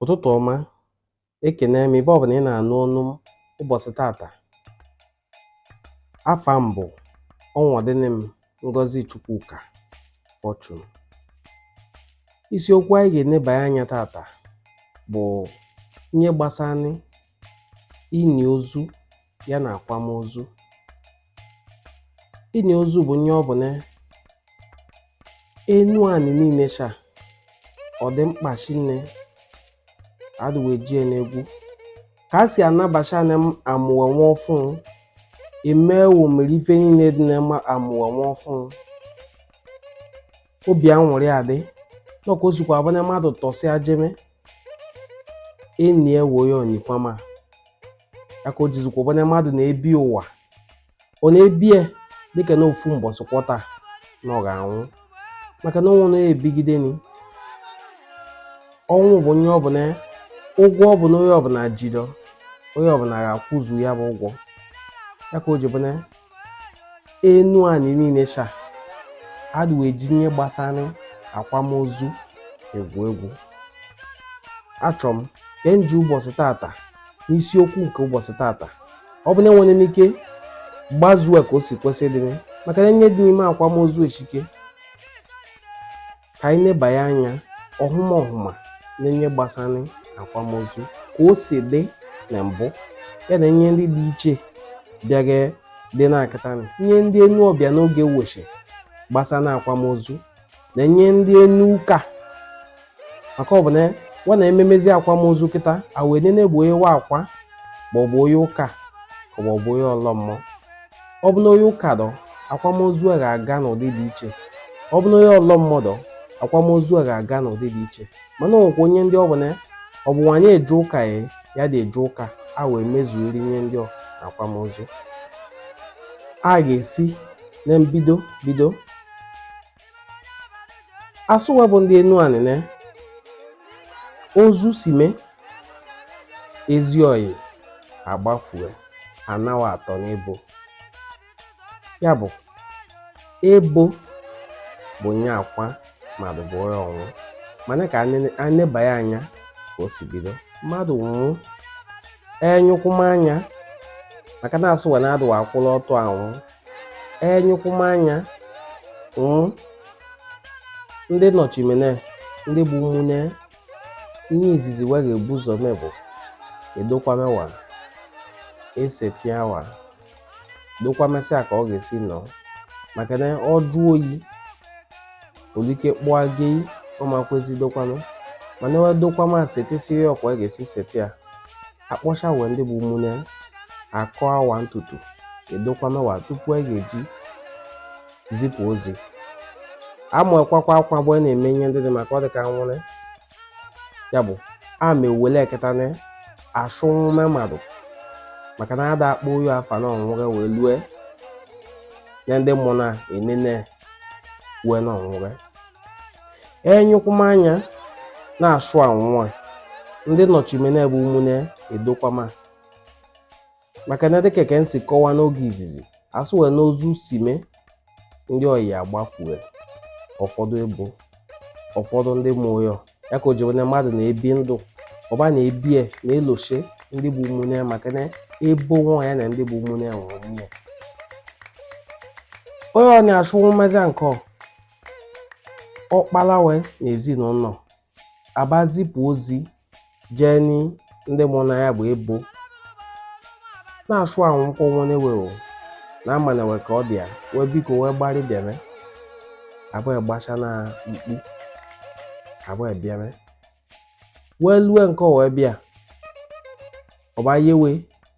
ụtụtụ ọma ekene m ebe ọbụna ị na-anụ onu m ụbọchị tata afa m bụ ọnwọdịnị m Ngozi Chukwuka Fortune isiokwu anyị ga-enebanye anya tata bụ ihe gbasara ini ozu ya na akwamozu ini ozu bụ nye ọ bụ na Enuani niine sha ọ dị mkpa shinne adịwe jie n'egwu ka a si anabacha na amụwa nwa ọfụụ emewo mere ife niile dị na amụwa nwa ọfụụ obi anwụrị adị nọ ka o sikwa abụ na mmadụ tọsịa jeme enie wo ya o nikwama ya ka o jizikwa bụ na mmadụ na-ebi ụwa ọ na-ebi ya dịka na ofu mbọsị kwọta na ọ ga-anwụ maka na o nwọ onye bigideni ọnwụ bụ nye ọ bụ na ụgwọ ọ bụ na onye ọbụna ji dọ onye ọbụna ga-akwụzu ya bụ ụgwọ ya ka o ji bụ na Enuani niine sha adụ wo eji ihe gbasara akwamozu egwu egwu achọrọ m ka m ji ụbọchị tata n'isiokwu nke ụbọchị tata ọ bụ na enwere m ike gbazuo ka o si kwesị dịrị maka na ihe dị n'ime akwamozu eshike ka anyị nebanye anya ọhụma ọhụma na ihe gbasara akwamozu ka o si dị na mbụ ya na ihe ndị dị iche bịaga dị na kịta ihe ndị enu ọbịa n'oge weche gbasara akwamozu na ihe ndị enu ụka maka ọ bụ na wa na-ememezi akwamozu kịta a wee nene bụ onye wa akwa maọbụ onye ụka maọbụ onye ọlọ mmụọ ọ bụ na onye ụka dọ akwamozu a ga-aga n'ụdị dị iche ọ bụ na onye ọlọ mmụọ dọ akwamozu a ga-aga n'ụdị dị iche mana o nwekwa onye ndị ọ bụ na ọ bụ nwanyị eje ụka ya adị eje ụka a wee mezuori ihe ndị ọ akwamozu a ga-esi na mbido bido asụwa bụ ndị Enuani na ozu sime ezi ọyị agbafue anawa atọ n'ebo ya bụ ebo bụ nye akwa mmadụ bụ onye ọnwụ mana ka anebanye anya ka o si bido mmadụ nwụ enyụkwụmanya maka na asụwa na adụwa akwụla ọtọ anwụ enyụkwụmanya mm, ndị nọchimene ndị bụ ụmụnne ihe izizi wa ga-ebu ụzọ mee bụ edokwamewa esetịawa dokwamesịa ka ọ ga-esi nọ maka na ọ jụọ oyi olike kpụa gị ọmakwezi dokwame mana ewe dokwame setisie ka a ga-esi seti ya akpọcha wee ndị bụ ụmụnne akọa wa ntutu edokwame wa tupu a ga-eji zipụ ozi ama akwakwa akwa bụ a na-eme ihe ndị dị maka ọ dị ka nwụrụ ya bụ a ma ewele eketa na asụ nwa mmadụ maka na ada akpọ onye afa na ọ nwụge wee lue na ndị mmụọ na-enene wee na ọ nwụge enyụkwụmanya na-asụ anwụwa ndị nọchimene bụ ụmụnne edokwama maka na dịka ka m si kọwa n'oge izizi asụ wee n'ozu si mee ndị oyi agbafue ụfọdụ ebo ụfọdụ ndị mụọ ya ka o ji na mmadụ na-ebi ndụ ọba na-ebie na-eloshe ndị bụ ụmụnne ya maka na ebo nwa ya na ndị bụ ụmụnne ya nwụrụ nwunye onye ọ na-asụ nwụ mmezi nke ọkpala we na ezinụnọ abịa zipụ ozi jee ndị mụ na ya bụ ebo na-asụ anwụkọ nwanne we o na ụmụnne we ka ọ dị ya wee biko wee gbarị bịame ebo agbasa na mkpu ebo abịame wee lue nke o wee bịa ọba yewe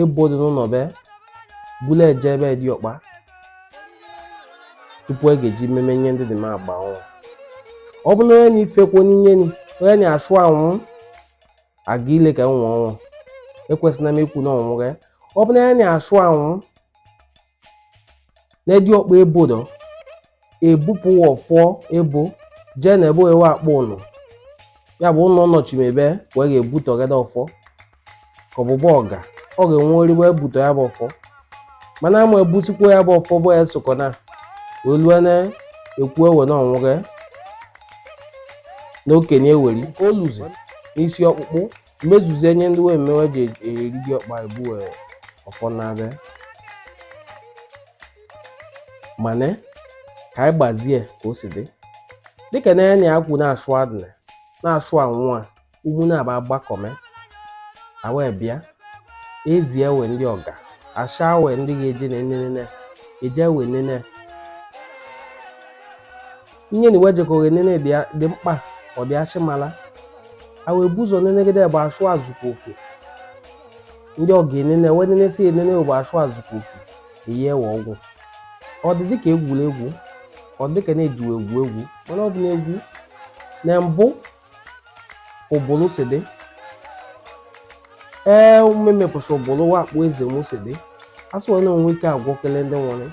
ebo dị n'ụnọ be bulu eje be diọkpa tupu a ga-eji mmemme nye ndị dị m agba ọnwụ ọ bụ na onye na-ifekwu n'inye ni onye na-asụ anwụ aga ile ka nwa ọnwụ ekwesịna m ikwu na ọ nwụge ọ bụ na onye na-asụ anwụ na diọkpa ebo dọ ebupụ wa ọfọ ebo jee na ebe ewe akpọ ụnọ ya bụ ụnọ nọchimebe wee ga-ebutọ gada ọfọ ka ọbụbọ ọga ọ ga-enwe ori wee butọ ya bụ ọfọ mana ama ebusikwa ya bụ ọfọ bụ ya sokọ na wee lue na ekwu ewe na ọ nwụge na okenye eweri oluzi n'isi ọkpụkpụ mmezuzie nye ndị wee mewe ji eri diọkpa ebue ọfọ na-abịa mana ka anyị gbazie ka o si dị dịka na onye a kwụ na-asụ adịna na-asụ anwụ a ụmụnna agbakọme e wee bịa ezie wee ndị ọga asaa wee ndị ga-eje na enene eje wee nene ihe na e wee jekọ enene dị mkpa ọ dị ashị mala a wee bu ụzọ nenegide bụ ashụ ezukwa oke ndị ọ ga-enene wee nenesi enene bụ ashụ ezukwa oke eyi ewe ọgwụ ọ dị dịka egwuregwu ọ dịka na-ejiwe egwu egwu mana ọ bụ na egwu na mbụ ụbụlụ si dị ee omume mepụcha ụbụlụ wakpo eze nwu si dị asụ onye onwe ike agwọ kele ndị nwere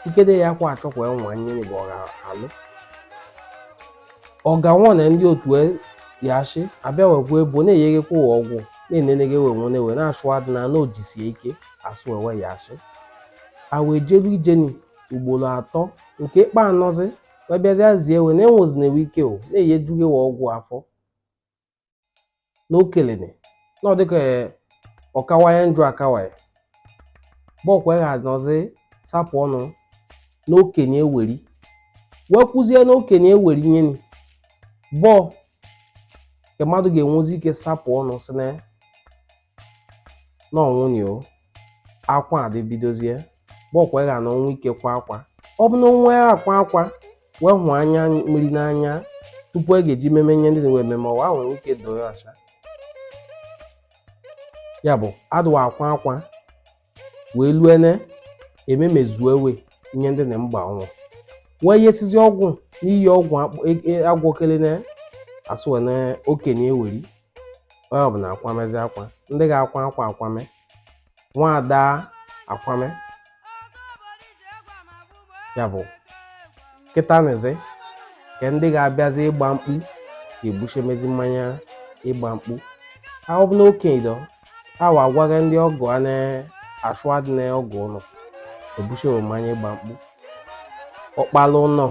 ikede ya kwa achọkwa ya nwa nyere bụ ọga alụ ọga nwa na ndị otu e ya achị abịa wekwa ebo na-eyeghekwa ụwa ọgwụ na-eneneghe we nwere we na-achụ adị na na ojisie ike asụ ewe ya achị a wee jelu ijeni ugboro atọ nke ịkpa anọzi wee bịazịa zie ewe na enwezi na ewe ike o na-eyi ejughị ewe ọgwụ afọ na okelene na ọ dịka ọ kawanye njọ akawanye mbọ ka wa ga-anọzi sapụ ọnụ na okenye anwụrị wee kwuzie na okenye anwụrị nyeni bụ nke mmadụ ga-enwezi ike sapụ ọnụ si na na ọ nwụnị o akwa adị ebidozie mbọ ka wa ga-anọ nwe ike kwa akwa ọ bụ na onwe ya akwa akwa wee hụ anya mmiri n'anya tupu a ga-eji meme ihe ndị we ememe ọwa nwere ike doo ya ọcha ya bụ adị wa akwa akwa wee lue na e memezue we nye ndị na mgba ọnwụ wee yesizi ọgwụ n'iyi ọgwụ agwọkele na asụ na okenye anwụrị onye ọbụla akwamezi akwa ndị ga-akwa akwa akwame nwaada akwame ya bụ kịtanịzi ka ndị ga-abịazi ịgba mkpu ga-ebuchemezi mmanya ịgba mkpu ahụ bụ na okenye awa agwaghị ndị ọgọ a na-asụ adị na ọgọ ụlọ ebushewe mmanya ịgba mkpu ọkpala ụlọ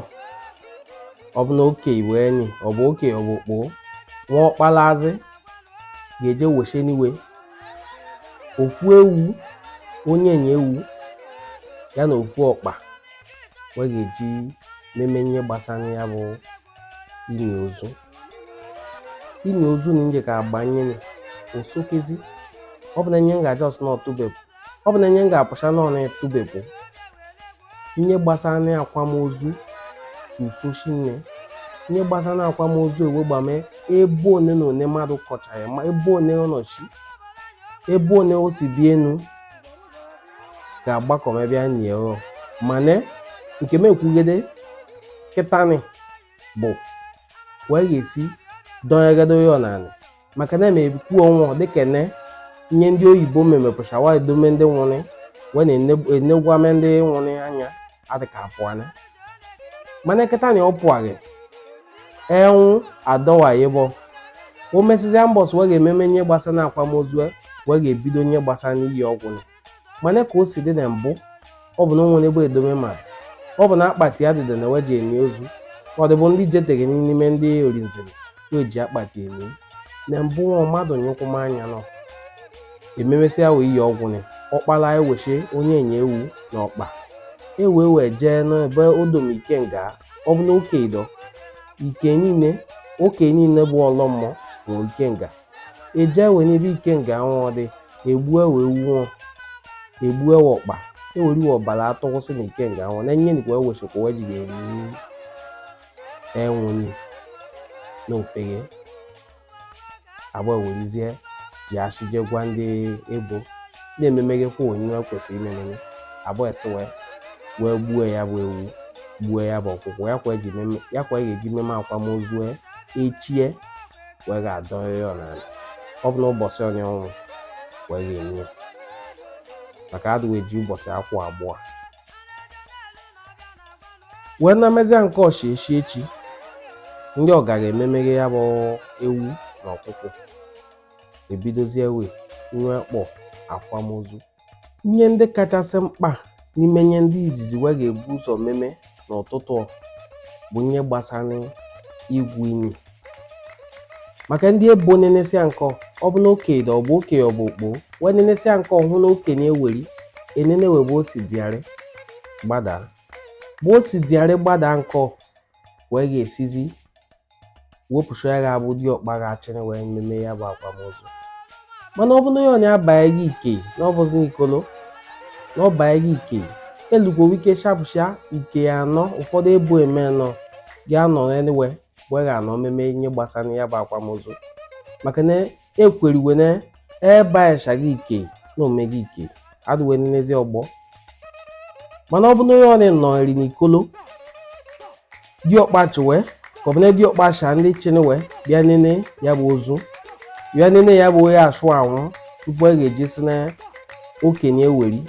ọ bụ na okei nwụnị ọ bụ oke ọ bụ okpoho nwa ọkpalazi ga-eje wesheni we ofu ewu onye enyi ewu ya na ofu ọkpa wee ga-eji meme ihe gbasara ya bụ ini ozu ini ozu na nje ka agbanyere osokezi ọ bụ na nye nga just na ọtụbepụ ọ bụ na nye nga apụcha na ọna etụbepụ ihe gbasara na akwamozu susoshi nne ihe gbasara na akwamozu ewe gbame ebe one na one mmadụ kọcha ya ma ebe one ọ nọchi ebe one o si bi enu ga-agbakọme bịa nye mana nke m ekwugede kịtanị bụ wee ga-esi dọnyegado ya ọnanị maka na eme ekwu ọnwụ dịka ne nye ndị oyibo memepụcha wa edome ndị nwụrị wee na-enegwame ndị nwụrị anya adịka apụanị mana kịtanị ọ pụaghị enwụ adọwa ịbọ o mesịzịa mbọsị wee ga-ememe nye gbasa na akwamozu wee ga-ebido nye gbasa n'iyi ọgwụ mana ka o si dị na mbụ ọ bụ na o nwere ebe edome mmadụ ọ bụ na akpati ya dịda na weji eni ozu ọ dịbụ ndị jeteghị n'ime ndị orinzere weji akpati eni na mbụ nwa mmadụ nyụkwụ m anya nọ ememesịa wee iyi ọgwụ na ọkpala ewechi onye enye ewu na ọkpa ewe wee jee n'ebe edome ikenga ọ bụ na oke ido ike niile oke niile bụ ọlọmmọ na ikenga eje we n'ebe ikenga anwụọ dị egbu we ewu egbu we ọkpa eweri we ọbara atụkwụsị na ikenga anwụọ na nye nikwa ewechekwa wee jiri eri enwụnye na ofeghe abụ we rizie ya achije gwa ndị ebo na-ememeghekwa we nye kwesịrị imeme abụ esi wee wee gbuo ya bụ ewu gbuo ya bụ ọkụkọ ya ka eji meme akwamozu echie wee ga-adọnye ya n'ala ọ bụ na ụbọchị onye ọnwụ wee ga-eni maka adị we eji ụbọchị akwụ abụọ wee na mezia nke ọchị echi echi ndị ọ gara ememeghe ya bụ ewu na ọkụkọ ebidozie wee nwe kpọ akwamozu Ihe ndị kachasị mkpa n'ime ihe ndị izizi we ga-ebu ụzọ meme n'ụtụtụ ọ bụ ihe gbasara igwu ini maka ndị ebo nenesia nke ọ bụ na okenye ọ bụ okei ọ bụ okpo wee nenesia nke ọhụ na okenye eweri enene we ebe o si dịarị gbadaa ebe o si dịarị gbadaa nke ọ wee ga-esizi wepụsha ya ga-abụ diọkpa ga-achịrị wee meme ya bụ akwamozu mana ọ bụ na onye abaghị ike na ọ bụzi n'ikolo na ọ baghị ike elugwo ike shapụsha ike ya anọ ụfọdụ ebo eme nọ ga-anọ anyway wee ga-anọ meme ihe gbasara ya bụ akwamozu maka na ekweriwe na ebe a echaghị ike na omega ike adịwe n'ezi ọgbọ mana ọ bụ na onye nọrị n'ikolo diọkpa chiwe ka ọ bụ na diọkpa cha ndị chiniwe bịa nene ya bụ ozu bịa nene ya bụ onye ashụ anwụ tupu a ga-eji si na okenye eweri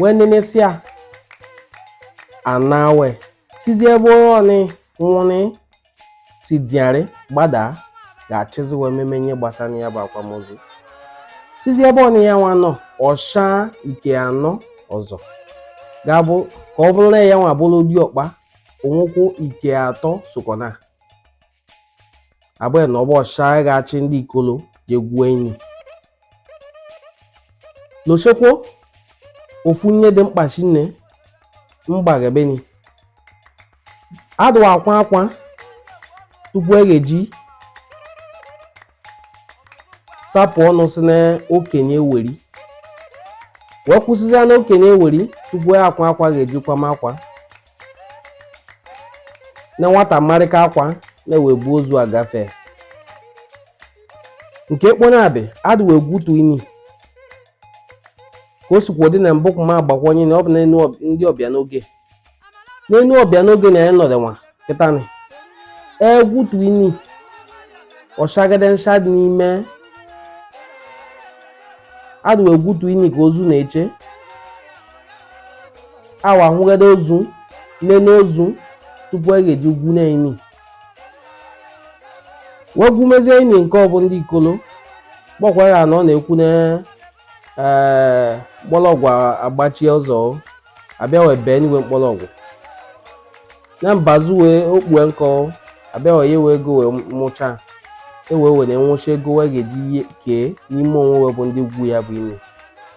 wee nenesia ana we sizi ebe onye nwụrị si dịarị gbadaa ga-achịzi wee meme ihe gbasara ya bụ akwamozu sizi ebe onye ya nwa nọ ọshaa ike anọ ọzọ ga-abụ ka ọ bụrụ na ya nwa bụrụ diọkpa onwụkwụ ike atọ sokọ na abụghị na ọ bụ ọshaa ga-achị ndị ikolo je gwuo ini lochekwo ofu nye dị mkpa shinne mgbaghebeni adịwa akwa akwa tupu e ga-eji sapụ ọnụ sị na okenye weri wee kwụsịzịa na okenye weri tupu akwa akwa ga-eji kwama akwa na nwata marịka akwa na-ewe bu ozu agafe nke kponabị adịwa egwutu ini ka o sikwa dị na mbụ ma agbakwanye na ọ bụ n'enu ndị ọbịa n'oge n'enu ọbịa n'oge na anyị nọdụ nwa kịtanị egwutu ini ọ chagide ncha dị n'ime adịwa egwutu ini ka ozu na-eche awa ahụgide ozu nene ozu tupu e ga-eji gwu na ini wee gwumezie ini nke ọ bụ ndị ikolo kpọkwa ya na ọ na-ekwu na ee mkpọrọgwụ agbachie ụzọ abịa wee bee n'iwe mkpọrọgwụ na mbazu wee okpue nkọ abịa wee yewe ego wee mụcha ewee were nwụcha ego wee ga-eji ihe kee n'ime onwe wee bụ ndị gwu ya bụ ini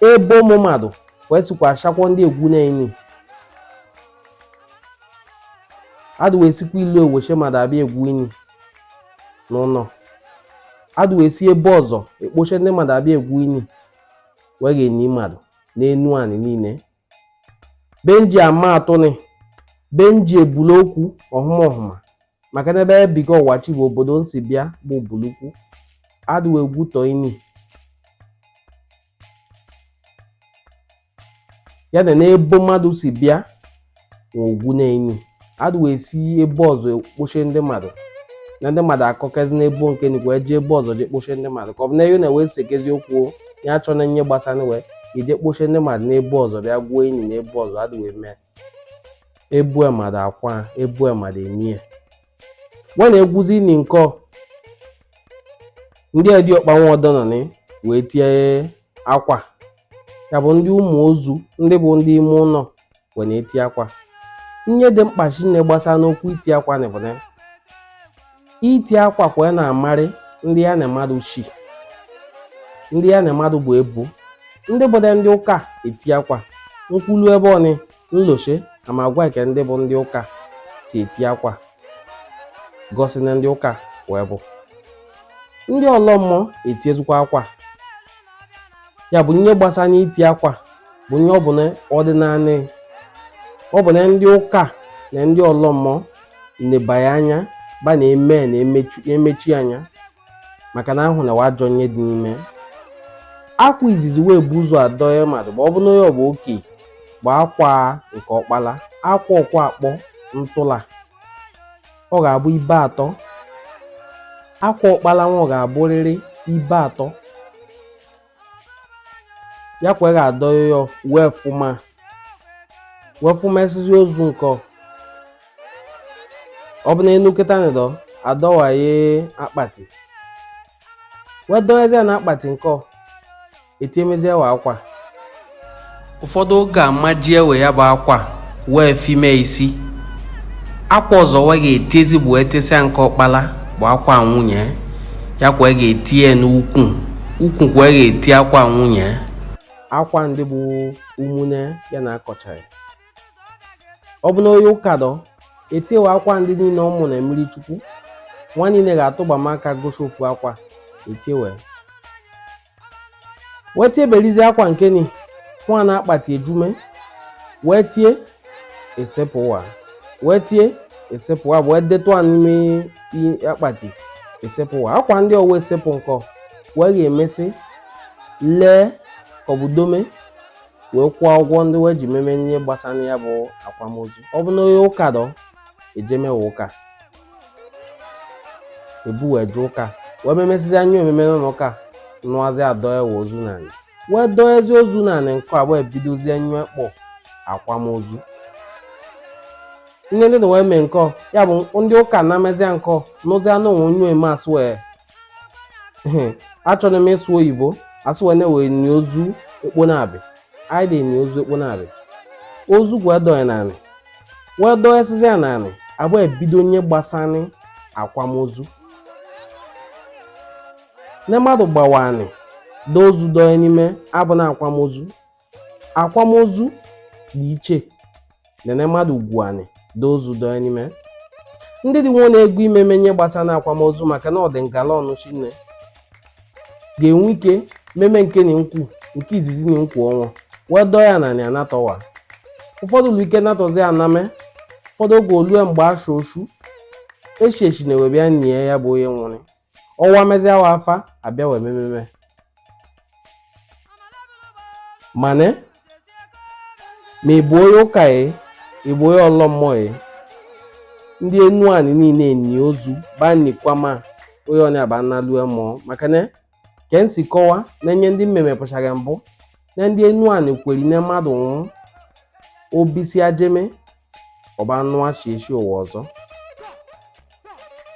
ebe ụmụ mmadụ wee sikwa achọkwa ndị egwu na ini adịwa esikwa ilo eweche mmadụ abịa egwu ini n'ụlọ adịwa esi ebe ọzọ ekpoche ndị mmadụ abịa egwu ini wee ga-eni mmadụ n'enu anị niile be nji ama atụnị be nji ebulu okwu ọhụma ọhụma maka na ebe ebiga ọwachi bụ obodo nsi bịa bụ bulukwu adịwa egwutu ini ya na n'ebo mmadụ si bịa wee gwu na ini adịwa esi ebe ọzọ ekpoche ndị mmadụ na ndị mmadụ akọkezi n'ebo nke nnukwu wee jee ebe ọzọ jee kpoche ndị mmadụ ka ọ bụ na eyo na wee sekezi okwu ya achọ na nye gbasara wee ije kpoche ndị mmadụ n'ebe ọzọ bịa gwuo ini n'ebe ọzọ adịwa eme ebo mmadụ akwa ebo mmadụ enie ya wee na-egwuzi ini nkọ ndị diọkpa nwa ọdọnọnị wee tie akwa ya bụ ndị ụmụ ozu ndị bụ ndị ime ụlọ wee na-eti akwa ihe dị mkpa shinne gbasa n'okwu iti akwa na bụ na iti akwa kwa ya na-amarị ndị ya na mmadụ shi ndị ya na mmadụ bụ ebo ndị bụdị ndị ụka eti akwa nkwulu ebe ọnị Nloche na ma agwa eke ndị bụ ndị ụka si eti akwa gosi na ndị ụka wee bụ ndị ọlọ mmụọ etiezikwa akwa ya bụ ihe gbasara n'iti akwa bụ ihe ọ bụ na ọdịnanị ọ bụ na ndị ụka na ndị ọlọ mmụọ nebanye anya ba na-eme na-emechi anya maka na ahụ na wa ajọ nye dị n'ime akwa izizi wee bu ụzọ adọye mmadụ ma ọ bụ na onye ọ bụ oke bụ akwa nke ọkpala akwa ọkwa akpọ ntụla ọ ga-abụ ibe atọ akwa ọkpala nwa ọ ga-abụrịrị ibe atọ ya kwa ga adọ ya wee fụma wee fụma esizi ozu nke ọ bụ na enu kịta ndọ adọwaye akpati wee dọnyezie na akpati nke etiemezie wa akwa ụfọdụ oge amaji ewe ya bụ akwa wee fime isi akwa ọzọ wee ga-etiezi bụ etisịa nke ọkpala bụ akwa nwunye ya kwa e ga-eti ya n'ukwu ukwu kwa e ga-eti akwa nwunye akwa ndị bụ ụmụnne ya na akọchara ọ bụ na onye ụka dọ etiewe akwa ndị niile ọ mụ na mmiri chukwu nwa niile ga-atụgbama aka gosi ofu akwa etiewe wee tieberizi akwa nke ni nwa na akpati ejume wee tie esepụwa wee tie esepụwa wee detụ a n'ime i- akpati esepụwa akwa ndị ọwa esepụ nkọ wee ga-emesị lee ka ọ bụ dome wee kwụọ ụgwọ ndị wee ji meme ihe gbasara ya bụ akwamozu ọ bụ na onye ụka dọ ejeme we ụka ebu wee je ụka wee memesịzia nye omeme n'ụlọ ụka nụazị adọe we ozu n'anị wee dọezi ozu n'anị nke abụọ ebidozie nye a kpọ akwamozu ihe ndị na wee mee nkọ ya bụ ndị ụka na-emezi nkọ n'ụzi anụ onwe onye eme asụ wee achọrọ m ịsụ oyibo asụwa na-ewe ni ozu ekpo na-abị anyị dị ni ozu ekpo na-abị ozu wee dọọ n'anị wee dọọ esizi ya n'anị abụọ ebido nye gbasara akwamozu na mmadụ gbawa anị dọọ ozu dọọ n'ime abụ na akwamozu akwamozu dị iche nene mmadụ igwu anị dọọ ozu dọọ n'ime ndị dị nwa na-ego imeme nye gbasana akwamozu maka na ọ dị ngala ọnụ shinne ga-enwe ike meme nke na nkwu nke izizi na nkwu ọnwa wee dọọ ya n'anị anatọwa ụfọdụ ụlọ ike natọzi aname ụfọdụ oge olue mgbe asha oshu eshi eshi na-ewebịa nie ya bụ onye nwụrụ ọnwa mezia wa afa abịa wee mememe mana ma ị bụ onye ụka ya ị bụ onye ọlọ mmụọ ya ndị enuani niile eni ozu banikwama onye ọ na-aba analue mmụọ maka na ka m si kọwa na-enye ndị mmemme pụchara mbụ na ndị Enuani kweri na mmadụ nwụrụ obisi ajeme ọba anụ achị echi ụwa ọzọ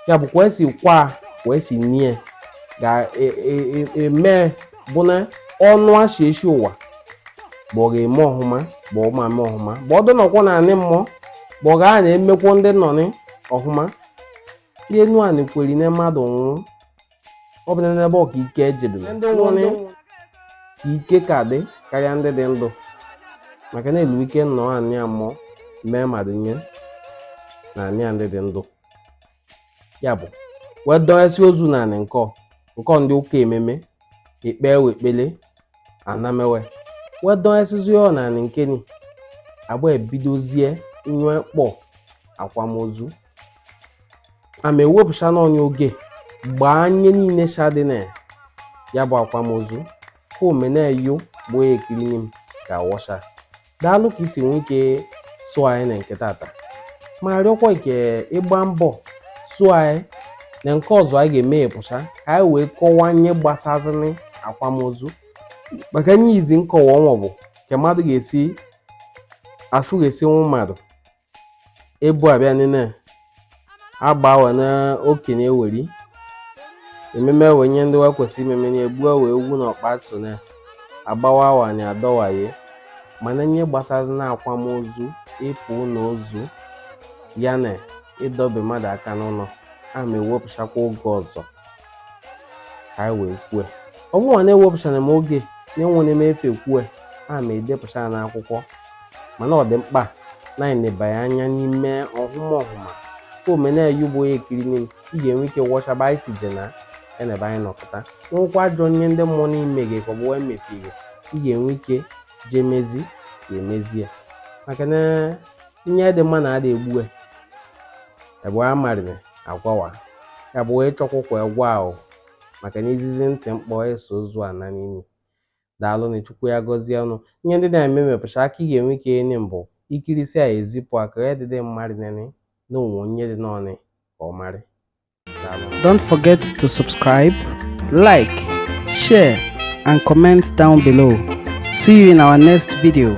ya bụ kwa esi kwa kwa esi nie ga-eme e, e, bụ na ọnụ achị echi ụwa bụ ọ ga-eme ọhụma bụ ọ ma eme ọhụma bụ ọdụ nọkwọ na anị mmụọ bụ ọ ga na-emekwo ndị nọ ọhụma ndị Enuani kweri na mmadụ nwụrụ ọ bụ n'ebe ọ ka ike ejebere ndị nwụrụ ka ike ka dị karịa ndị dị ndụ maka na e nwe ike nọ anị ya mmụọ mee mmadụ nye na anị ya ndị dị ndụ ya bụ wee dọnyesị ozu na anị nkọ nkọ ndị ụka ememe ikpewe ekpele a na-eme e wee dọnyesịzi ọ na anị nke nị agba ebidozie nye a kpọ akwamozu a ma ewepụcha n'ọnya oge gbaa nye niile shadị na ya bụ akwamozu ka ọ mee na yo bụ onye ekirini m ga-awọcha daalụ ka i si nwee ike soo anyị na nke tata ma rịọkwa ka ị gba mbọ soo anyị na nke ọzọ anyị ga-emepụcha ka anyị wee kọwaa nye gbasazịnị akwamozu maka nye izi nkọwa ọnwa bụ ka mmadụ ga-esi achụ ga-esi nwa mmadụ ebu abịa nene agba awa na okenye weri ememe wee nye ndị wa kwesị imeme na egbuwa ewu na ọkpa atụ na agbawa awa na adọwaye mana nye gbasazi na akwamozu ịpụ n'ozu ya na ịdọbe mmadụ aka n'ụnọ a ma ewepụchakwa oge ọzọ ka anyị wee kwue ọ bụrụ na ewepụchara m oge na enwere m efe kwue a ma edepụcha ya n'akwụkwọ mana ọ dị mkpa na anyị nebanye anya n'ime ọhụma ọhụma ka ọ mee na yo bụ onye ekirini m ị ga-enwe ike wọcha ebe anyị si je na ebe anyị nọ kịta nwekwa ajọ nye ndị mmụọ na-eme gị ka ọ bụ wee mefie gị ị ga-enwe ike jee mezi ya emezi ya maka na nye dị mma na ada egbue ebe a marịrị agwawa ya bụ wee chọkwụkwa egwu ahụ maka na izizi ntị mkpọ eso ozu ana n'ini daalụ na chukwu ya gọzie unu ihe ndị na-eme mepụcha aka ị ga-enwe ike enye m bụ i kirisịa ezipụ aka ya dịdị mmadụ nene na onwe onye dị n'ọnị ka ọ marị Don't forget to subscribe, like, share, and comment down below. See you in our next video.